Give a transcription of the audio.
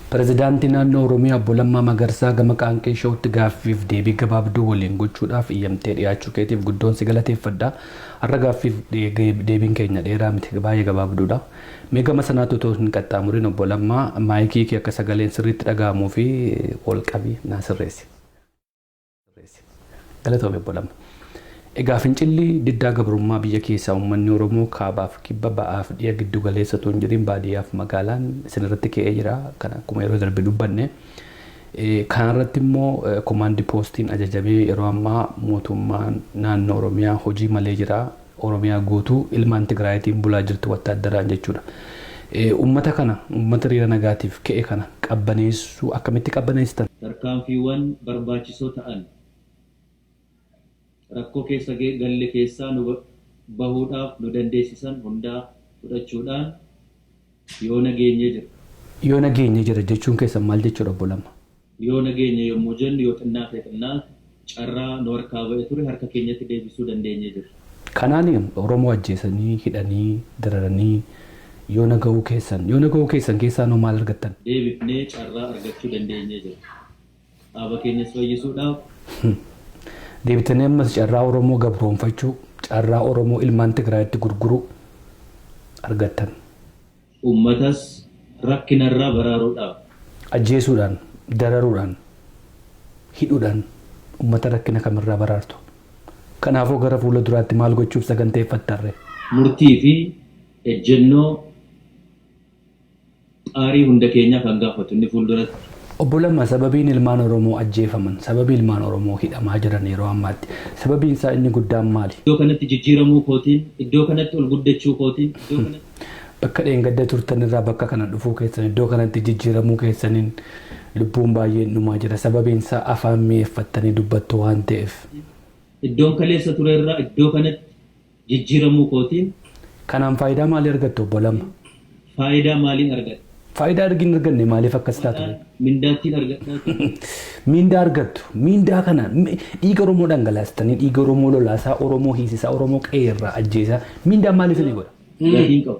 Pireezidaantii naannoo Oromiyaa Obbo Lammaa Magarsaa gama qaanqee showutti gaaffiif deebii gabaabduu waliin gochuudhaaf iyyamtee dhiyaachuu keetiif guddoon si galateeffadha. Har'a gaaffiif deebiin keenya dheeraa miti baay'ee gabaabduudha. Mee gama sanaatti otoo hin qaxxaamuriin Obbo Lammaa maayikii kee akka sagaleen sirriitti dhaga'amuu fi ol qabi naa sirreessi. Galatoomi Obbo Lamma. Egaa fincilli diddaa gabrummaa biyya keessaa uummanni Oromoo kaabaaf kibba ba'aaf dhiya giddu galeessa utuu hin jedhin baadiyyaaf magaalaan isin irratti ka'ee jira. Kan akkuma yeroo darbe dubbanne. Kana irratti immoo komaandi poostiin ajajamee yeroo ammaa mootummaan naannoo Oromiyaa hojii malee jira. Oromiyaa guutuu ilmaan Tigraayitiin bulaa jirti wattaaddaraan jechuudha. Uummata kana, uummata hiriira nagaatiif ka'e kana qabbaneessuu akkamitti qabbaneessitan? Tarkaanfiiwwan barbaachisoo ta'an rakkoo keessa galle keessaa nu bahuudhaaf nu dandeessisan hundaa fudhachuudhaan, Yoona geenye jira. Yoona geenye jira jechuun keessan maal jechuudha obbo Lamma? Yoona geenye yommuu jennu yoo xinnaate xinnaate carraa nu harkaa ba'e ture harka keenyatti deebisuu dandeenye jirra. Kanaan Oromoo ajjeesanii, hidhanii, dararanii yoona ga'uu keessan. Yoona ga'uu keessan keessaanoo maal argattan? Deebifnee carraa argachuu dandeenye jirra. Dhaaba keenyas fayyisuudhaaf. Deebitanii ammas carraa Oromoo gabroomfachuu, carraa Oromoo ilmaan Tigraayitti gurguruu argattan. Uummatas rakkinarraa baraaruudhaaf. Ajjeesuudhaan, dararuudhaan, hidhuudhaan uummata rakkina kamirraa baraartu? Kanaafoo gara fuula duraatti maal gochuuf saganteeffattarree? Murtii fi ejjennoo Xaarii hunda keenyaa kan gaafatu inni fuulduratti. Obbo Lamma, Sababiin ilmaan Oromoo ajjeefaman, sababii ilmaan Oromoo hidhamaa jiran yeroo ammaatti, sababiin isaa inni guddaan maali? Iddoo kanatti jijjiiramuu kootiin, iddoo kanatti ol guddachuu kootiin, iddoo kanatti. Bakka dheengadda turtan irraa bakka kana dhufuu keessan, iddoo kanatti jijjiiramuu keessaniin lubbuun baay'een dhumaa jira. Sababiin isaa afaan mi'eeffattanii dubbattu waan ta'eef. Iddoon kaleessa ture irraa iddoo kanatti jijjiiramuu kootiin. Kanaan faayidaa maalii argatte Obbo Lamma? Faayidaa maaliin argadha? Faayidaa ergi hin arganne maaliif akkas taatu? Maqaa mindaattiin argadhaa ture. Miindaa argattu. Miindaa kana mi- dhiiga Oromoo dhangalaastanii, dhiiga Oromoo lolaasaa, Oromoo hiisisaa, Oromoo qe'ee irraa ajjeesaa. Miindaan maal isinii godha? Gatiin qabu.